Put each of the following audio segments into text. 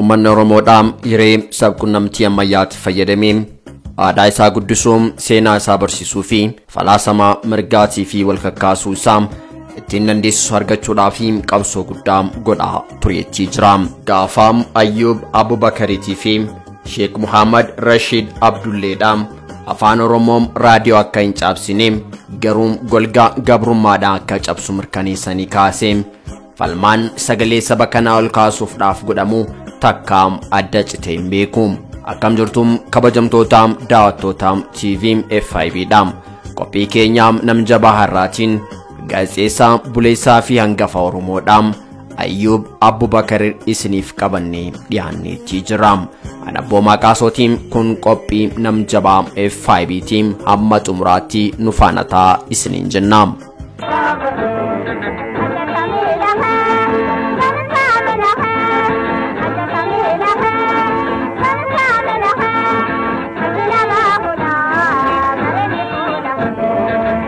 Uummanni Oromoodhaa hiree sabqunnamtii ammayyaatti fayyadamee aadaa isaa guddisuu, seenaa isaa barsiisuu fi falaasama mirgaatii fi walkakkaasuu isaa ittiin dandeessisu argachuudhaaf qabsoo guddaa godhaa tureettii jira. Gaafa Ayyuub Abubakariitii fi Sheek Muhammad Rashiid Abdulleedha. Afaan Oromoom raadiyoo akka hin caabsine garuu golgaa gabrummaadha akka cabsu mirkaneessanii kaase. Falmaan sagalee saba kanaa ol kaasuufdhaaf godhamu takkaam adda citee hin beeku. Akkam jirtuum kabajamtootaam daawwattootaam TV FIB dha. Qophii keenyaam nam jabaa har'aatiin gaazexeessaa buleessaa fi hangafa Oromoodhaam. Ayyuub Abbubakarir isiniif qabannee dhiyaanneetii jira. Ana boomaa qaasootiin kun qophii nam jabaa FIB tiim hamma xumuraatti nu faana ta'a isiniin jenna.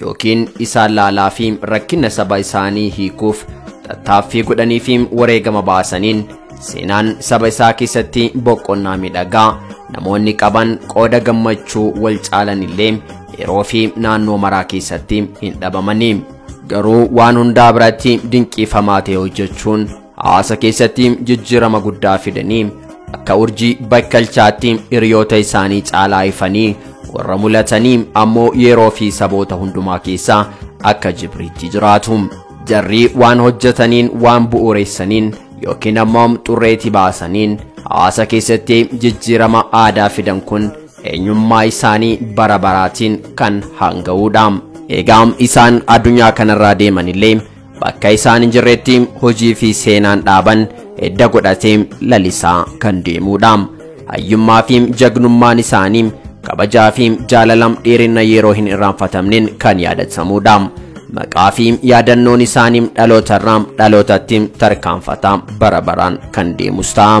yookiin isaan laalaa fi rakkina saba isaanii hiikuuf tattaaffii godhanii fi wareegama baasaniin seenaan saba isaa keessatti boqonnaa miidhagaa namoonni qaban qooda gammachuu wal caalan illee yeroo fi naannoo maraa keessatti hin dhabamanii garuu waan hundaa biratti dinqiifamaa ta'e hojjechuun Hawaasa keessatti jijjiirama guddaa fidanii akka urjii bakkalchaatti hiriyoota isaanii caalaa ifanii warra mul'atanii ammoo yeroo fi saboota hundumaa keessaa akka jibriitti jiraatu. Jarrii waan hojjetaniin waan bu'uureessaniin yookiin ammoo xurreetii baasaniin hawaasa keessatti jijjiirama aadaa fidan kun eenyummaa isaanii bara baraatiin kan hanga'uudha. Egaa isaan addunyaa kanarraa deemanillee Bakka isaan hin jirretti hojii fi seenaan dhaaban edda godhatee lalisaa kan deemuudha. Hayyummaa fi jagnummaan isaanii kabajaa fi jaalala dheerina yeroo hin irraanfatamneen kan yaadatamuudha. Maqaa fi yaadannoon isaanii dhalootarraa dhalootatti tarkaanfataa bara baraan kan deemus ta'a.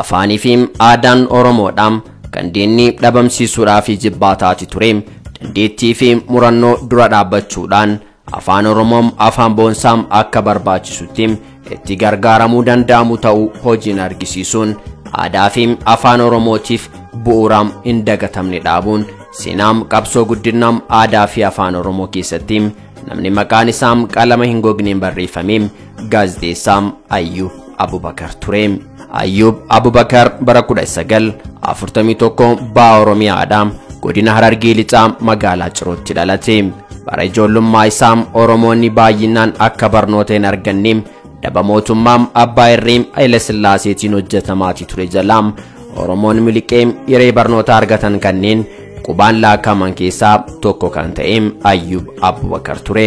Afaanii fi aadaan Oromoodha kan diinni dhabamsiisuudhaa fi jibbaataati ture. Dandeettii fi murannoo dura dhaabbachuudhaan afaan Oromoo afaan boonsaa akka barbaachisutti itti gargaaramuu danda'amu ta'uu hojiin argisiisuun aadaa fi afaan Oromootiif bu'uuraa hin dagatamne dhaabuun seenaa qabsoo guddinaa aadaa fi afaan Oromoo keessatti Namni maqaan isaa qalama hin gogneen barreeffame gaazexeessaa Ayyuub Abubakar ture. Ayyuub Abubakar bara 1941 baha Oromiyaadha. Godina Harargee Lixaa magaalaa Cirootti dhalate. Bara ijoollummaa isaa Oromoonni baay'inaan akka barnoota hin arganne daba mootummaa abbaa irree Hayila Sillaaseetiin hojjetamaati ture jalaam Oromoon miliqee hiree barnootaa argatan kanneen qubaan laakkaman keessaa tokko kan ta'e Ayyuub Abubakar ture.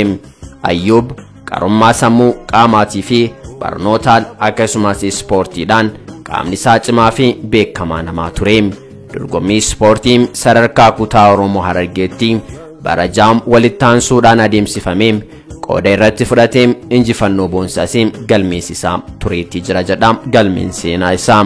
Ayyuub qarummaa sammuu qaamaatii fi barnootaan akkasumas ispoortiidhaan qaamni isaa cimaa fi beekamaa namaa ture. Dorgommii ispoortii sadarkaa kutaa Oromoo Harargeetti bara jaam walitti aansuudhaan adeemsifame qooda irratti fudhatee injifannoo boonsaas galmeessisaa tureetti jira jedha galmeen seenaa isaa.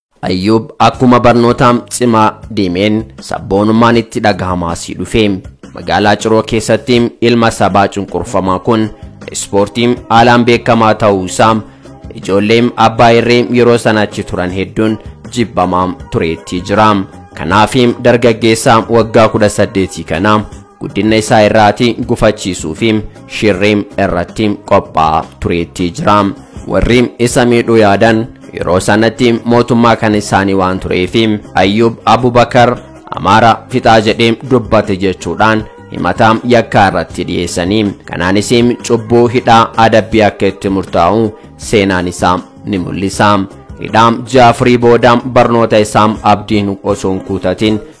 Ayyuub akkuma barnoota cimaa deemeen sabboonummaan itti dhagahamaa sii dhufe. Magaalaa Ciroo keessatti ilma sabaa cunqurfamaa kun ispoortii haalaan beekamaa ta'uu isaa ijoollee abbaa irree yeroo sana achi turan hedduun jibbamaa tureetti jira. Kanaaf dargaggeessa waggaa 18 kana guddinna isaa irraati gufachiisuu fi shirri irratti qophaa'aa tureetti jira. Warri isa miidhuu yaadan yeroo sanatti mootummaa kan isaanii waan tureef Ayyuub Abubakar Amaara fixaa jedhee dubbate jechuudhaan himataa yakkaa irratti dhiyeessanii kanaanis cubbuu hidhaa adabbii akka itti murtaa'u seenaan isaa ni mul'isa. Hidhaa Jaafirii booda barnoota isaa abdiin osoo hin kuutatiin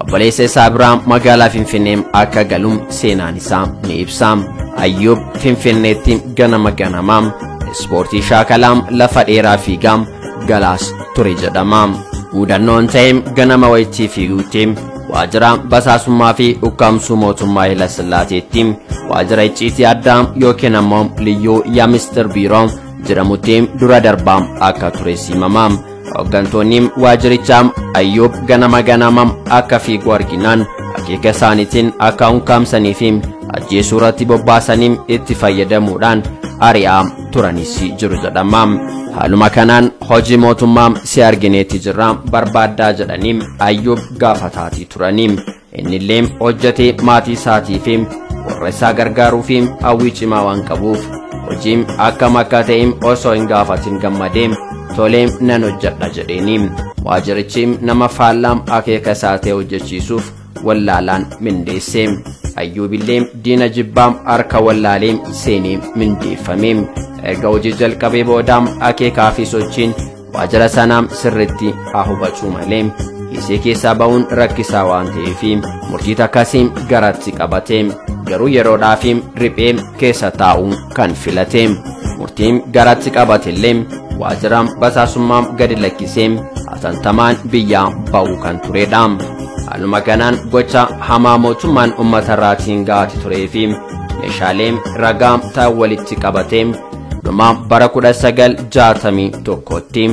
Obboleessa isaa biraa magaalaa Finfinnee akka galu seenaan isaa ni ibsa. Ayyuub Finfinneetti ganama ganamaa ispoortii shaakalaam lafa dheeraa fiigaa galaas ture jedhama. Muudannoon ta'e ganama wayittii fiiguutti waajjira basaasummaa fi ukkaamsuu mootummaa Hayila Sillaaseetti waajjira icciitii addaa yookiin ammoo liyyuu yaa mistir biiroo jedhamutti dura darbaa akka ture simama. Hooggantoonni waajirichaa Ayyuub ganama ganama akka fiigu arginaan akeeka isaaniitiin akka unkaamsanii fi ajjeesuu irratti bobbaasanii itti fayyadamuudhaan ari'aa turanis jiru jedhama. Haaluma kanaan hojii mootummaa si argineetti jirra barbaaddaa jedhanii Ayyuub gaafataatii turanii. Innillee hojjetee maatii isaatii fi warra isaa gargaaruu fi hawwii cimaa waan qabuuf hojiin akkam akka ta'e osoo hin gaafatin gammadee tolee nan hojjedha jedheeni. Waajirichi nama faallaa akeeka isaa ta'e hojjechiisuuf wallaalaan mindeesse. Ayyuubillee diina jibbaa harka wallaalee seenee mindeeffame. Erga hojii jalqabee booda akeekaa fi sochiin waajjira sanaam sirriitti haa hubachuu malee isee keessaa ba'uun rakkisaa waan ta'eef murtii takkasiin garatti qabate garuu yeroodhaaf riphee keessa taa'u kan filate murtiin garatti qabatellee waajjiraan basaasummaa gadi lakkisee atantamaan biyyaa ba'uu kan turedha. Haaluma kanaan gocha hamaa mootummaan uummatarraatiin ga'aa turee fi meeshaalee ragaa ta'an walitti qabatee dhuma bara 1961tti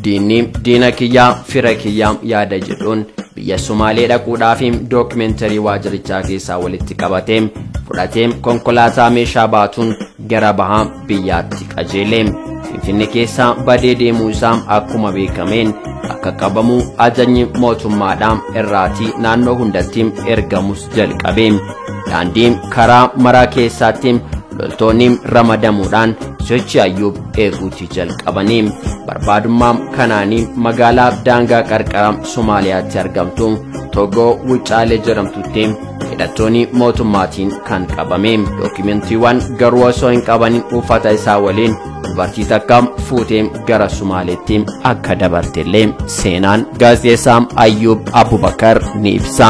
diinni diina kiyyaa fira kiyyaa yaada jedhuun biyya Sumaalee dhaquudhaaf dookimenterii waajirichaa keessaa walitti qabatee fudhatee konkolaataa meeshaa baatuun gara bahaa biyyaatti qajeele. Finfinne keessaa badee deemuu isaa akkuma beekameen akka qabamu ajajni mootummaadhaan irraatii naannoo hundatti ergamus jalqabe. Daandii karaa maraa keessaatti loltoonni ramadamuudhaan sochii ayyuub eeguutti jalqabanii barbaadummaa kanaanii magaalaa daangaa qarqara somaaliyaatti argamtu togoo wucaalee jedhamtutti hidhattoonni mootummaatiin kan qabame dookumentiiwwan garuu osoo hin qabanin uffata isaa waliin dubartii takka fuutee gara sumaaleetti akka dabartellee seenaan gaazexeessaa ayyuub abubakar ni ibsa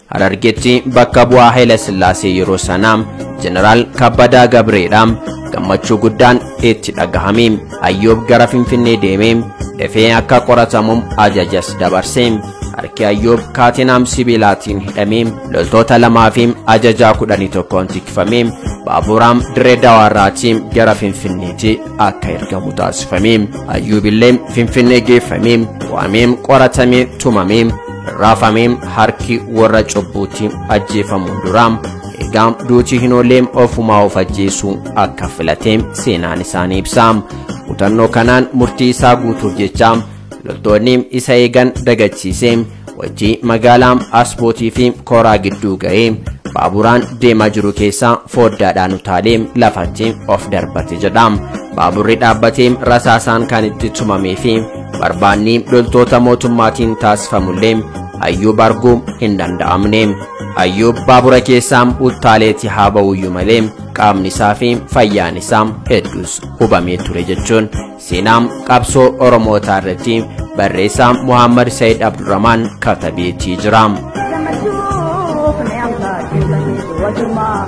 Harargetti bakka bu'aa Haile Sillaasee yeroo sanaa Jeneraal Kabbadaa Gabreedha. Gammachuu guddaan itti dhagahame. Ayyoob gara Finfinnee deeme. Dafee akka qoratamuuf ajajas dabarse. Harki Ayyoob kaatinaam sibiilaatiin hidhame. Loltoota lamaa fi ajajaa kudhanii tokkoon tikfame. Baaburaam dirree dawaarraatii gara Finfinneetti akka ergamu taasifame. Ayyuubillee Finfinnee geeffame. Waamee qoratamee tumame. Raafamee harki warra cubbuutti ajjeefamu duraa egaa duuti hin ooleem ofumaa of ajjeesuu akka filate seenaan isaanii ibsa. Kutannoo kanaan murtii isaa guutuuf jecha loltoonni isa eegan dagachiisee wajjii magaalaa asbootii fi koraa gidduu ga'ee baaburaan deemaa jiru keessaa fooddaadhaan utaalee lafatti of darbate jedha. Baaburri dhaabbatee rasaasaan kan itti tumamee fi barbaanni loltoota mootummaatiin taasifamullee Ayyuub arguu hin danda'amne. Ayyuub baabura keessaa uttaaleeti haa ba'uyyuu malee qaamni isaa fi fayyaan isaa hedduus hubamee ture jechuun seenaa qabsoo Oromootaa irratti barreessaa Muhammad Said Abdurrahman katabeetii jira. Gammachuu fi ammaa keessatti wajjummaa.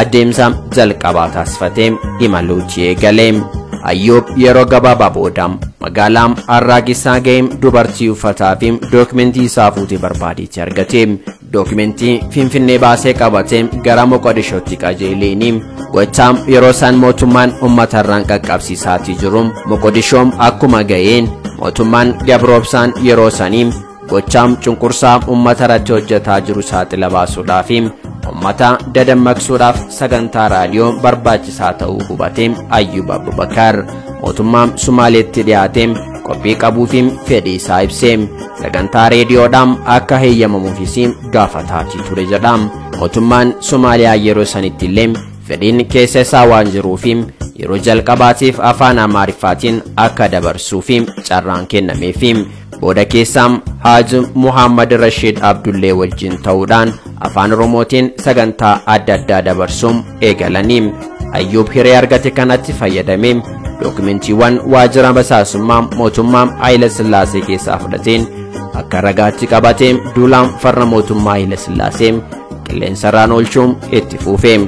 Adeemsa jalqabaa taasifatee imaluuti eegalee. Ayyuub yeroo gabaabaa booda magaalaa Arraagessaa ga'ee dubartii uffataa fi dookimentii isaa fuutee barbaadeetti argate. Dookimentii Finfinnee baasee qabatee gara Moqodishootti qajeeleeni. Gochaa yeroo isaan mootummaan uummata irraan qaqqabsiisaatii jiru Moqodishoom akkuma ga'een mootummaan gabroobsaan yeroo sanii Gochaam cunqursaa uummata irratti hojjetaa jiru saaxila baasuudhaa fi uummata dadammaqsuudhaaf sagantaa raadiyoo barbaachisaa ta'uu hubate Ayyub Abubakar mootummaa Sumaaleetti dhiyaate qophii qabuu fi fedhii isaa ibse sagantaa reediyoodhaan akka heeyyamamuufis gaafataatii ture jedha mootummaan Somaaliyaa yeroo sanitti illee fedhiin keessa isaa waan jiruuf yeroo jalqabaatiif afaan Amaariffaatiin akka dabarsuuf carraan kennameef Booda keessaam Haaj Muhammad Rashiid Abdullee wajjin ta'uudhaan afaan Oromootiin sagantaa adda addaa dabarsuun eegalanii. Ayyuub hiree argate kanatti fayyadamee dookumentiiwwan waajjira basaasummaa mootummaa Haayila Sillaasee keessaa fudhateen akka ragaatti qabatee duulaan farra mootummaa Haayila Sillaasee qilleensarraan oolchuun itti fuufee.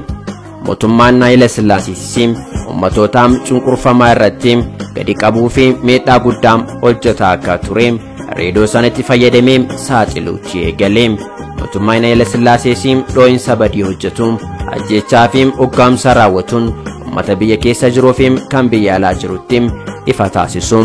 Mootummaan Haayila Sillaasiisis ummatoota cunqurfamaa irratti gadi qabuu fi miidhaa guddaa hojjetaa akka ture reedoo sanatti fayyadamee saaxiluutti eegale. Mootummaan Haayila Sillaasees dhoo'insa badii hojjetu ajjechaa fi ukkaamsa raawwatuun ummata biyya keessa jiruu fi kan biyya alaa jirutti ifa taasisu.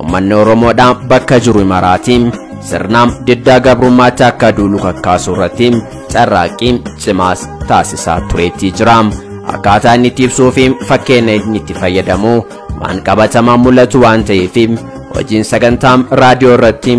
Ummanni Oromoodha bakka jiru imaraati sirnaam diddaa gabrummaatti akka duulu kakkaasuu irratti carraaqqii cimaas taasisaa tureetii jira. Akkaataa inni itti ibsuu fi fakkeenya inni itti fayyadamu waan qabatamaan mul'atu waan ta'eef hojiin sagantaam raadiyoo irratti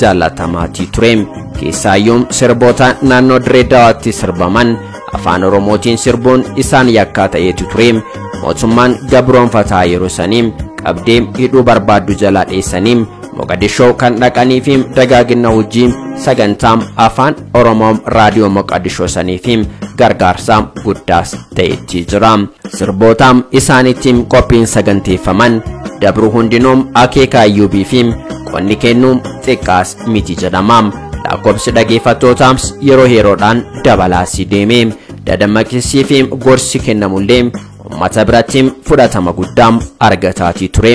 jaallatamaatii ture. Keessaayyuu sirboota naannoo Dirree Dawaatti sirbaman afaan Oromootiin sirbuun isaan yakkaa ta'eetu ture. Mootummaan gabroonfataa yeroo sanii qabdee hidhuu barbaaddu jalaa dheessanii Moqadishoo kan dhaqanii fi dagaagina hojii sagantaa afaan Oromoo raadiyoo Moqadishoo sanii fi gargaarsa guddaas ta'etti jira. Sirboota isaaniitiin qophiin saganteeffaman dabru hundinuu akeeka ayyuub fi qonni kennu xiqqaas miti jedhama. Lakkoobsi dhageeffattootaas yeroo yeroodhaan dabalaasii deeme. Dadammaqsii fi gorsi kennamullee uummata biratti fudhatama guddaa argataatii ture.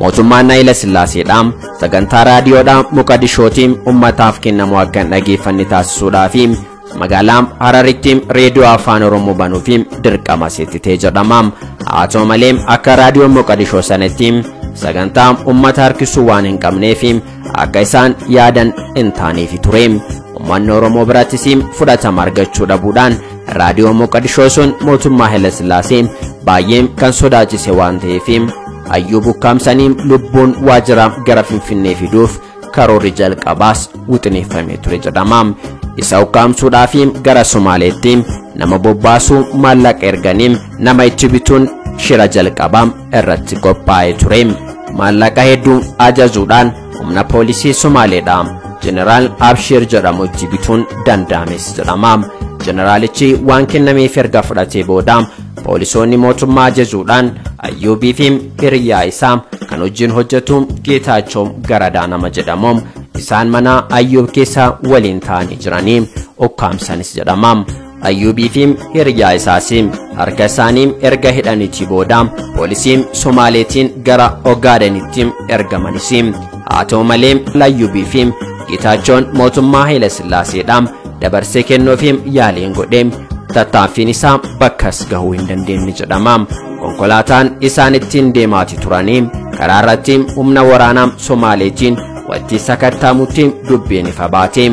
Mootummaan Hayila Sillaaseedha. Sagantaa raadiyoodhaa Moqadishootiin ummataaf kennamu akka hin dhageeffanne taasisuudhaa fi magaalaa Hararitti reediyoo afaan Oromoo banuuf dirqama seettitee jedhama. Haa ta'u malee akka raadiyoon Moqadishoo sanatti sagantaa ummata harkisuu waan hin qabneef akka isaan yaadan hin taaneefi ture. Uummanni Oromoo birattis fudhatama argachuu dhabuudhaan raadiyoo Moqadishoo sun mootummaa Hayilasillaasee baay'ee kan sodaachise waan ta'eef hayyuu bukkaamsanii lubbuun waajjira gara Finfinnee fiduuf karoorri jalqabaas wixineeffamee ture jedhama. Isa ukkaamsuudhaa fi gara Somaaleetti nama bobbaasuu maallaqa erganii nama itti bituun shira jalqabaa irratti qophaa'ee ture maallaqa hedduu ajajuudhaan humna poolisii somaaleedha jeneraal abshiir jedhamutti bituun danda'ames jedhama jeneraalichi waan kennameef erga fudhatee booda poolisoonni mootummaa ajajuudhaan ayyuubii fi hiriyaa isaa kan hojiin hojjetu geetaachoo garadaa nama jedhamu isaan mana ayyuub keessa waliin ta'anii jiranii ukkaamsanis jedhama Ayyuubii fi hiriyaa isaas harka isaanii erga hidhaniitii booda poolisii Somaaleetiin gara Ogaadenitti ergamanis. Haa ta'u malee Ayyuubii fi Geetaachoon mootummaa Haayila Sillaaseedhaan dabarsee kennuufi yaaliin godhe tattaaffiin isaa bakkas gahuu hin dandeenye jedhama. Konkolaataan isaan ittiin deemaati turanii karaa irratti humna waraanaa Somaaleetiin walitti sakattaamutti dubbiin ifa baate.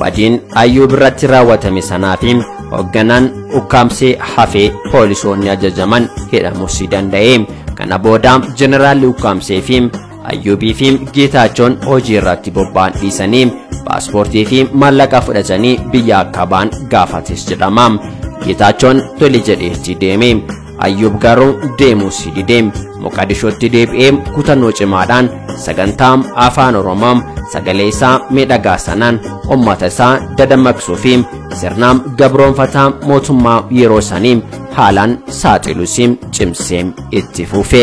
Badiin Ayyuub irratti raawwatame sanaa fi hoogganaan ukkaamsee hafee poolisoonni ajajaman hidhamus danda'e. Kana booda jeneraalli ukkaamsee fi Ayyuubii fi Geetaachoon hojii irratti bobba'an dhiisanii paaspoortii fi maallaqa fudhatanii biyya akka ba'an gaafates jedhama. Geetaachoon tole jedheetti deeme. Ayyuub garuu deemuus didee Moqadishootti deebi'ee kutannoo cimaadhaan sagantaa afaan Oromoo sagalee isaa miidhagaa sanaan uummata isaa dadammaqsuu fi sirna gabroonfataa mootummaa yeroo sanii haalaan saaxiluus cimsee itti fufe.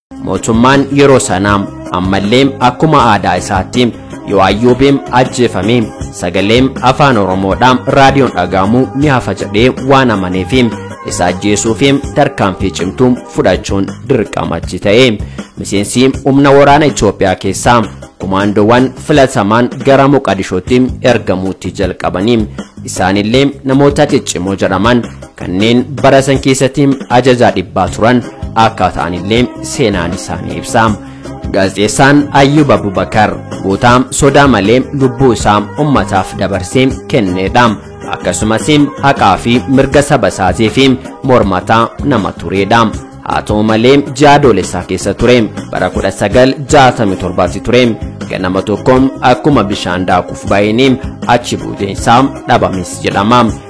Mootummaan yeroo sanaa ammallee akkuma aadaa isaatti yoo ayyuubiin ajjeefame sagaleen afaan oromoodhaan raadiyoon dhaga'amu ni hafa jedhee waan amaneef isa ajjeesuuf tarkaanfii cimtuu fudhachuun dirqamachi ta'e miseensi humna waraana Itoophiyaa keessaa kumaandoowwan filatamaan gara Moqadishootti ergamuutti jalqabanii isaanillee namoota ciccimoo jedhaman kanneen bara san keessatti ajajaa dhibbaa turan akka ta'anillee seenaan isaanii ibsa. Gaazexeessaan Ayyub Abubakar goota sodaa malee lubbuu isaa ummataaf dabarsee kennedha. Akkasumas haqaa fi mirga saba isaatiif mormataa nama turedha. Haa ta'u malee ji'a Adoolessaa keessa ture bara 1967tti ture ganama tokko akkuma bishaan daakuuf baay'een achi buuteen isaa dhabames jedhama.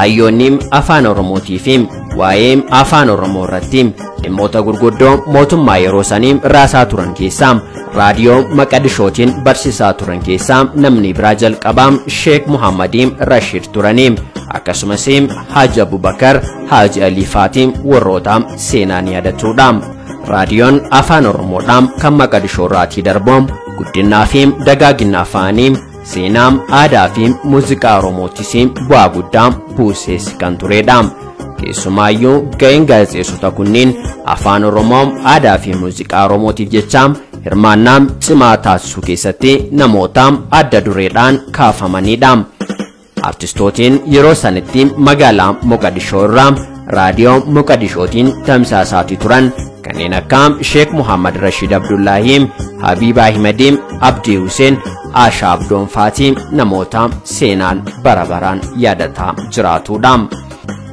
Hayyoonni afaan Oromootii fi waa'ee afaan Oromoo irratti dhimmoota gurguddoo mootummaa yeroo sanii raasaa turan keessaa raadiyoo maqadishootiin barsiisaa turan keessaa namni biraa jalqabaa Sheek Muhammadii Rashiid turanii akkasumas Haaji Abubakar Haaji Alii Faatii warroota seenaan yaadatudha. Raadiyoon afaan Oromoodhaan kan maqadishoo irraatii darbu guddinaa fi dagaagina afaanii Seenaa, aadaa fi muuziqaa Oromootis bu'aa guddaa buusees kan turedha. Keessumaayyuu ga'een gaazexeessota kunneen afaan Oromoo, aadaa fi muuziqaa Oromootiif jecha hirmaannaa cimaa taasisuu keessatti namoota adda dureedhaan kaafamanidha. Artistootiin yeroo sanitti magaalaa Moqadishoo irraa raadiyoo Moqadishootiin tamsaasaatii turan kanneen akka Sheek Muhammad Rashiid Abdullaahii, Habiib Ahimadi, Abdii Huseen, Aashaa Abdoon Faatii namoota seenaan bara baraan yaadataa jiraatudha.